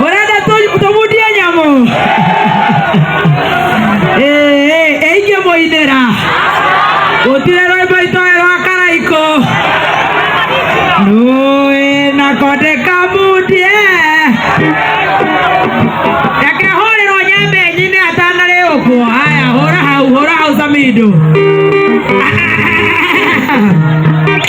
murenda tu- tumundie nyamũ Ee, eingĩ mũinĩra gũtirĩ rwĩmbo itoĩ rwa karaikũ nũĩ na konde kamundie reke hũrĩrwo nyambenyi-inĩ atanarĩũkwo haya hũra hau hũra hau samindo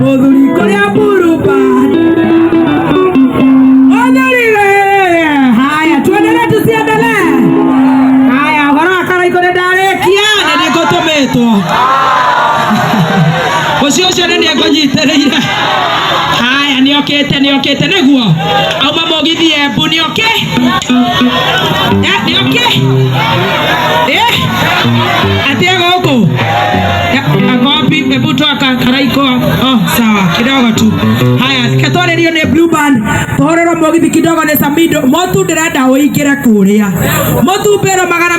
Mũthuri kũrĩa mburuba. Onyorire. Haya, tuendelee tusiendelee? Haya, ũhoro wa karaiko nĩndarĩkia na nĩngũtũmĩtwo. Ũcio ũcio nĩ nĩngũnyitĩrĩire. Haya, nĩokĩte nĩokĩte nĩguo. Auma mũgithi Embu nĩoke. Eh, nĩoke. Eh, atĩ gũkũ. ako wapi hebu toa ka- karaiko oh sawa kidogo tu haya reke twarĩrio nĩ blue band tũhorerwo mũgithi kidogo nĩ samido motu ndĩrenda ũingĩre kũrĩa motu mbero magana